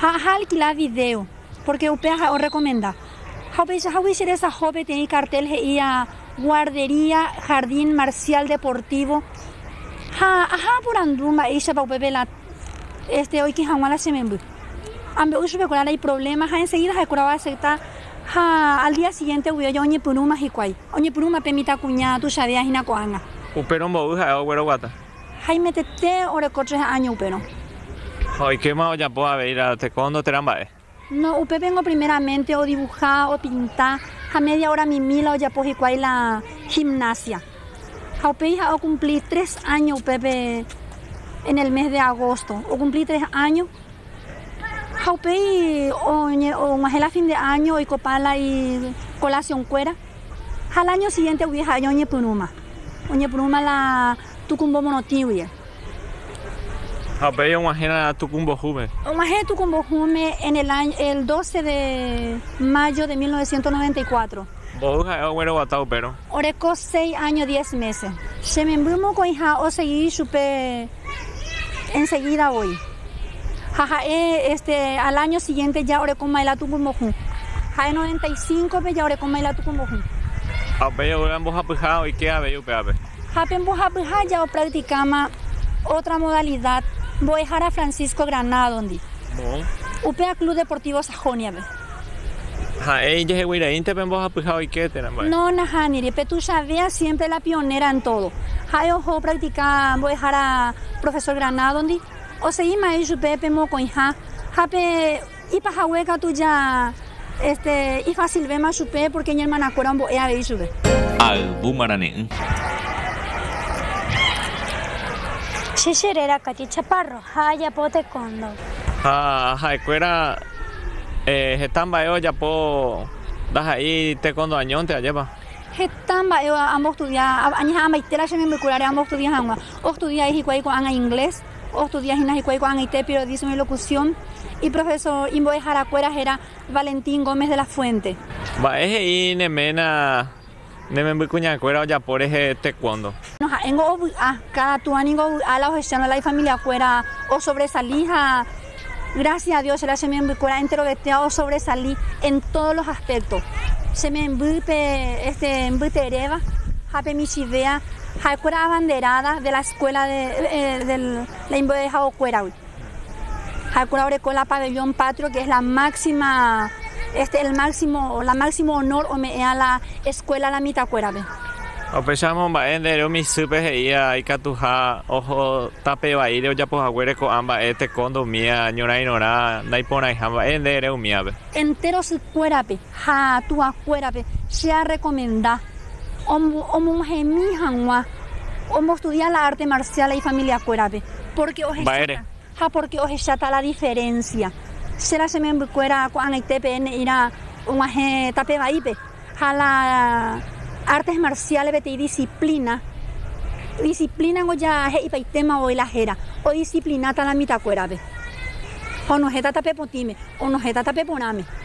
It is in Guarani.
ha aha alkila vidéo, pórke upe aha'e orrekomenda. Ha upeichahágui che resaho peteĩ kartél he'íva Guardería Jardín Marcial Deportivo ha aha aporandu mba'éichapa upépe la oike hag̃ua la che memby. Ambe'u chupekuéra la iprovléma ha ensegída ha'ekuéra oasepta ha al día sigiéntegui oja oñepyrũma hikuái, oñepyrũma pe mitãkuña tuichavéva hína ko'ág̃a. Upérõ mboy ha'e ogueroguata. Haimetete oreko tre áño upérõ. Ha oikéma ojapo avei la tekóndo térã mba'e. No, upépengo primeramente odivuha, opinta, ha media óra mimi la ojapo hikuái la gimnasia. Ha upéi ha'e okumpli tres áño upépe en el mes de agosto. Okumpli tres áño ha upéi oñe, og̃uahẽ la fin de áño oikopa la ikolasionkuéra. Ha la año siguiente-gui ha'e oñepyrũma, oñepyrũma la tukumbo morotĩ-guie. Ha upéi og̃uahẽrã tuku mbohúme. Og̃uahẽ tuku mbohúme en el año, el doce de mayo de mil novecientos noventa y cuatro. Mbohúi ha'e ogueroguata upérõ. Oreko seis año diez meses. Che memby mokõiha osegi chupe. ensegída voi. Ha ha'e este al áño sigiénte ja orekóma la tuku mbohũ. Ha'e noventa y cíncope ja orekóma la tuku mbohũ. Ha upéi oúramo mbohapyha oike avei upévape. Ha pe mbohapyha ja opracticáma ótra modalidad mbo'ehára Francisco Granadondi, upéva Club Deportivo. Joniápe. Ha'e ijehegueiraínte pe mbohapyha oike térã mba'e. No, nahániri. Pe tuichavéa siémpre la pionéra en tódo. Ha'e oho opraktika mbo'ehára profesór Granádondi, osegi ma'ẽ ichupe pe mokõiha ha pe ipahague katu ja este ifasilvéma chupe pórke iñermanakuéra ombo'e avei ichupe. Ha yvu marane'ỹ. Che che réra Katy Chaparro. Ha ajapo tekóndo. Ha ha'ekuéra heta mba'e ojapo ndaha'éi tekóndo añónte, ajépa? Heta mba'e ambostudia, añeha'ãmbaite la che membykuráre ambostudia hag̃ua. Ostudiai hikuái ko'ág̃a inglés, ostudia hína hikuái ko'ag̃aite periodismo y locución. Iprofesor imbo'eharakuéra héra Valentín Gómez de la Fuente. Mba'e he'i ne ména Ne memby kuñakuéra ojapo rehe taekwondo. No ha'éngo ovy'a, káda tuã ningo ovy'a la ohechárõ la ifamiliakuéra osovresali ha grásias a Dios che la che membykuéra enterovetéva osovresali en tódo los aspéktos. Che memby pe este mbyteréva ha pe michĩvéva ha'ekuéra abanderáda de la eskuéla de la imbo'ehaokuéragui. Ha'ekuéra oreko la Pabellón Patrio que es la máxima este el máximo o la máximo honor ome'ẽva la escuela la mitãkuérape. Upéicharamo mba'e nde ere umi isýpe he'íva ikatuha oho tape vaíre ojapo haguére ko'ã mba'e teko ndoumía ñorãirõrã naiporãiha mba'e nde ere umívape. Entéro sykuérape. Ha tuakuérape che arrekomenda omohemi hag̃ua ombostudia la arte marcial la ifamiliakuérape, pórke ohecháta ha pórke ohecháta la diferénsia. Che la che membykuéra ko'ag̃aite peẽme he'íra og̃uahẽ tape vaípe ha la artes marciales peteĩ disiplina, disiplina ningo ja he'ipaitéma voi la héra, odisiplináta la mitãkuérape ha onohẽta tape potĩme, onohẽta tape porãme.